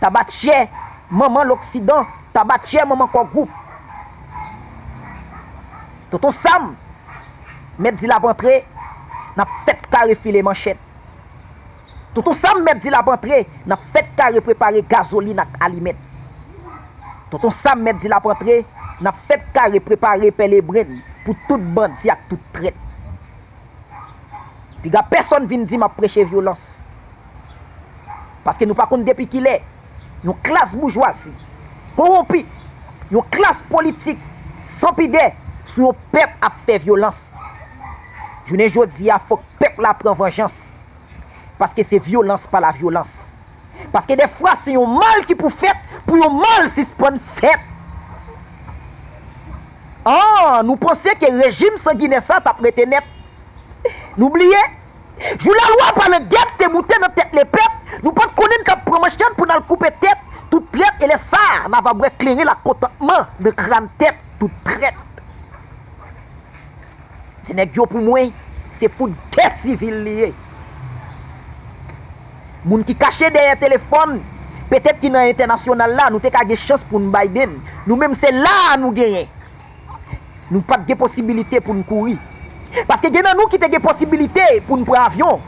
Tabatyè manman loksidan Tabatyè manman kò gwoup Tonton Sam mèt di l ap antre N ap fèt kare file manchèt Tonton Sam mèt di l ap antre N ap fèt kare prepare gazolin ak alimèt Tonton Sam mèt di l ap antre N ap fèt kare prepare pèlebren Pou tout bandi ak tout trèt Piga pèsòn vin di m ap preche vyolans Paske nou pa konn depi kilè yon klas boujwazi kowonpi, yon klas politik san pidè sou yon pèp ap fè vyolans. Jounen jodi a fòk pèp la pran vanjans. Paske se vyolans pa lavyolans. Paske dèfwa se yon mal ki pou fèt pou yon mal sispann fèt. An nou panse ke rejim sanginè sa tap rete nèt? Nou bliye Jou lalwa pale gèp te moute nan tèt lepèp Nou pat konnen n tap pran manchèt pou n al koupe tèt tout trèt Elè sa a na va bwè kleren ak kontantman nan kran tèt tout trèt Ti nèg yo pou mwen se fout gè sivil li ye Moun ki kache dèyè telefòn petèt ki nan entènasyonal la nou te ka gen chans pou n bay de n Nou menm se la a nou genyen Nou pa t gen posibilite pou n kouri. Paske gen nan nou ki te gen posibilite pou n pran avyon.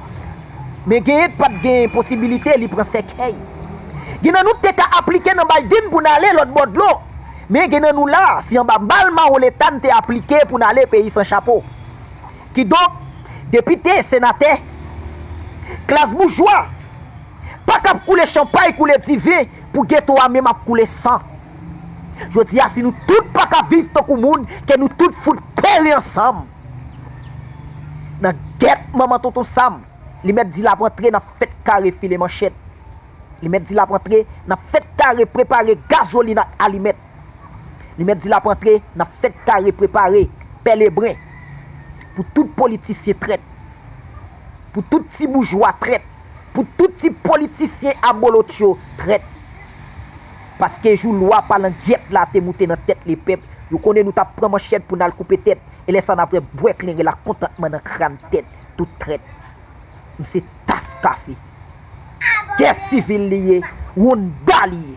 Men genyen k pa t gen posibilite li pran sèkèy. Gen nan nou k te ka aplike nan Biden pou n ale lòt bò dlo. Men gen nan nou la, se anba bal mawon leta n te aplike pou n ale peyi san chapo. Kidonk, depite, senatè, klas boujwa, pa k ap koule chanpay, koule diven pou geto a menm ap koule san. Jodi a si nou tout pa ka viv tankou moun ke nou tout fout peri ansanm nan gèt manman tonton sam li mèt di lap antre nap fèt kare file manchèt li mèt di lap antre nap fèt kare prepare gazolin ak alimèt li mèt di lap antre nap fèt kare prepare pè lebren pou tout politisyen trèt pou tout ti boujwa trèt. pou tout ti politisyen abolotcho trèt paske jou lwa palangyèt la te moute nan tèt lepèp yo konnen nou tap pran manchèt pou nal koupe tèt e lè sa nap vè bwè kleren la kontantman nan kran tèt tout trèt m se tas kafe gè sivil li ye rounda li ye.